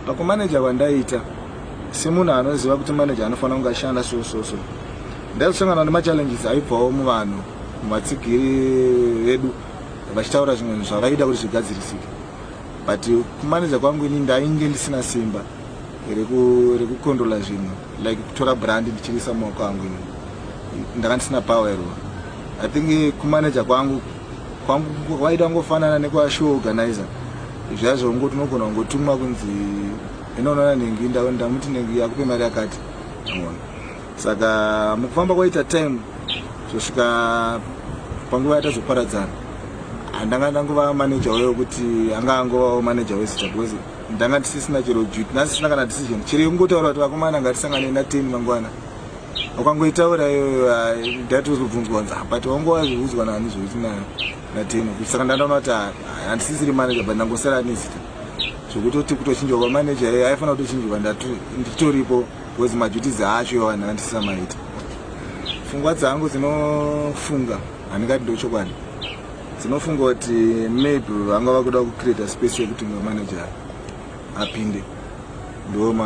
Pakumaneja kwandaita semunhu anoziva kuti maneja anofanira kunge ashanda so so so ndaisangana nemachallenges aibvawo muvanhu muvatsigiri vedu vachitaura zvimwe zvinhu zvavaida kuti zvigadzirisike but kumaneja kwangu ini ndainge ndisina simba rekukondrola reku zvinhu like kutora brand ndichirisa maoko angu ini ndanga ndisina power iro i think kumaneja kwangu kwangu waita ngofanana nekwa show organizer zvazvo ungo tinogona kungotumwa kunzi inoonana nengi ndamuti nengi yakupe mari yakati amona saka mukufamba kwaita time zvosvika panguva yatazoparadzana handanga ndangova manager wayo kuti anga angovawo manager wezita because ndanga ndisisina chero duty ndasisina kana decision chero yekungotaura kuti vakomana ngatisangane nateni mangwana ukangoitaura iyoyo dati uzobvunzwa nza but wangu wazviudzwa nani zvokuti nateno kuti saka ndandaona kuti handisisiri manager but ndangosara nezita zvokutoti kutochinjwa kwamanager iye aifanira kutochinjwa nditoripo bcause maduties acho iwo vanhu vandisisamaita fungwa dzangu dzinofunga handingati ndochokwadi dzinofunga kuti maybe vanga vakuda kucreata space yekuti manager apinde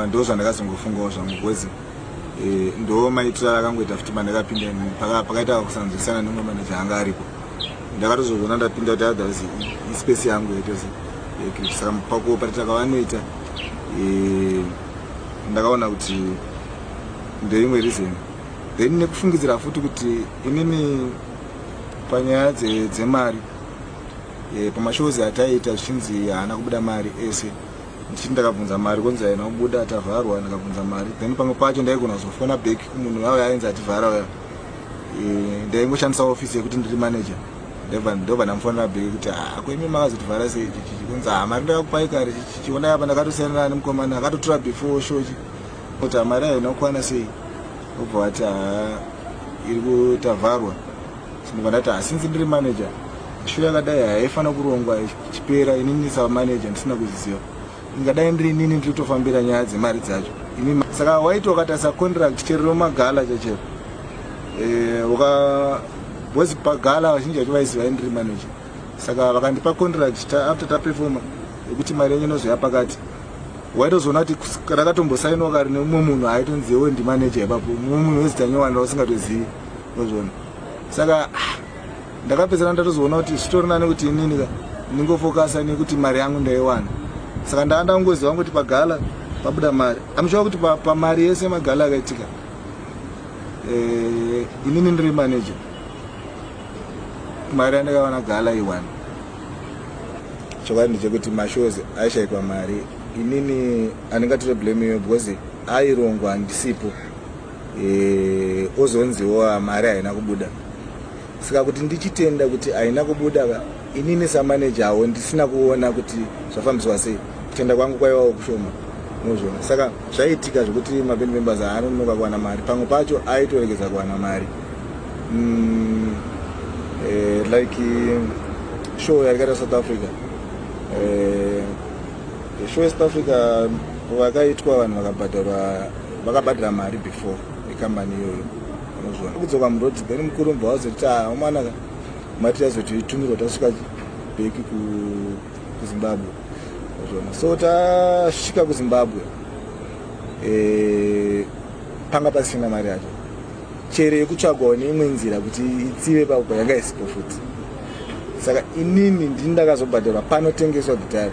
ndo zvandakazongofungawo zvangu because eh, ndo maitiro akangoita futi pandakapinda pakaita kusanzwisana nemwe manaja anga aripo ndakatozozona ndapinda kuti otherwise ispace yangu yaitozi eh, saka pakuoperata kavanoita eh, ndakaona kuti ndeimwe reason then nekufungidzira futi kuti inini panyaya dzemari dze e, pamashows ataiita zvichinzi haana kubuda mari ese ndichiti ndakabvunza mari konzi haina kubuda tavharwa ndakabvunza mari then pamwe pacho ndaigona kuzofona back kumunhu yavo yainzi ativhara uya e, ndaingoshandisa office yekuti ndiri manager ndobva ndamufonera back kuti akuimi ah, makazotivhara sei chichichi kunzi ha ah, mari ndakakupai kare chichiona yapa ndakatosiyanana nemukomana akatotora before shochi kuti hamari ah, ayo inokwana sei obva vati ha iri kutavharwa Ndibva ndati ah, since ndiri manager show yakadai haifanira kurongwa ichipera inini ndisava manager ndisina kuziziva ingadai ndiri inini ndiri kutofambira nyaya dzemari dzacho ini saka waiti wakatarisa contract chero romagala chachero eh, uka bcoz pagala vazhinji vacho vaiziva indiri manager saka vakandipa contract ta, after taperfoma yekuti mari yenyu inozoya pakati waitozoona kuti rakatombosainwa kari neumwe munhu aitonziwo ndimanager ipapo mumwe munhu wezita nyowani rausingatozivi ndozvona saka ndakapedzana ndatozoona kuti zvitori nani kuti inini ka ndingofokasa nekuti mari yangu ndaiwana saka ndava ndakungoziva kuti pagala pabuda mari amushuwa kuti pamari pa yese magala akaitika eh, inini ndiri manager mari yandakawana gala iwani chokwadi ndechekuti mashows aishaikwa mari inini andingatire blame iyo because airongwa handisipo e, ozonziwo ah, mari haina kubuda saka kuti ndichitenda kuti haina kubuda ka inini samaneja awo ndisina kuona kuti zvafambiswa sei kutenda kwangu kwaivawo kushoma mozviona saka zvaiitika zvekuti maband members haanonoka kuwana mari pamwe pacho aitoregedza kuwana mari mm, eh, like show yaikaita south africa eh, show yesouth africa vakaitwa vanhu vakabhadharwa vakabhadhira mari before ekambani iyoyo unozviona kudzoka muroad then mukuru mbva wazoti ah, umana mati yazotiitumirwa tasvika beki kuzimbabwe unozviona so tasvika kuzimbabwe eh, panga pasina mari yacho chere yekutsvagwawo neimwe nzira kuti itsive pako yanga isipo futi saka inini ndini ndakazobhadharwa panotengeswa gitari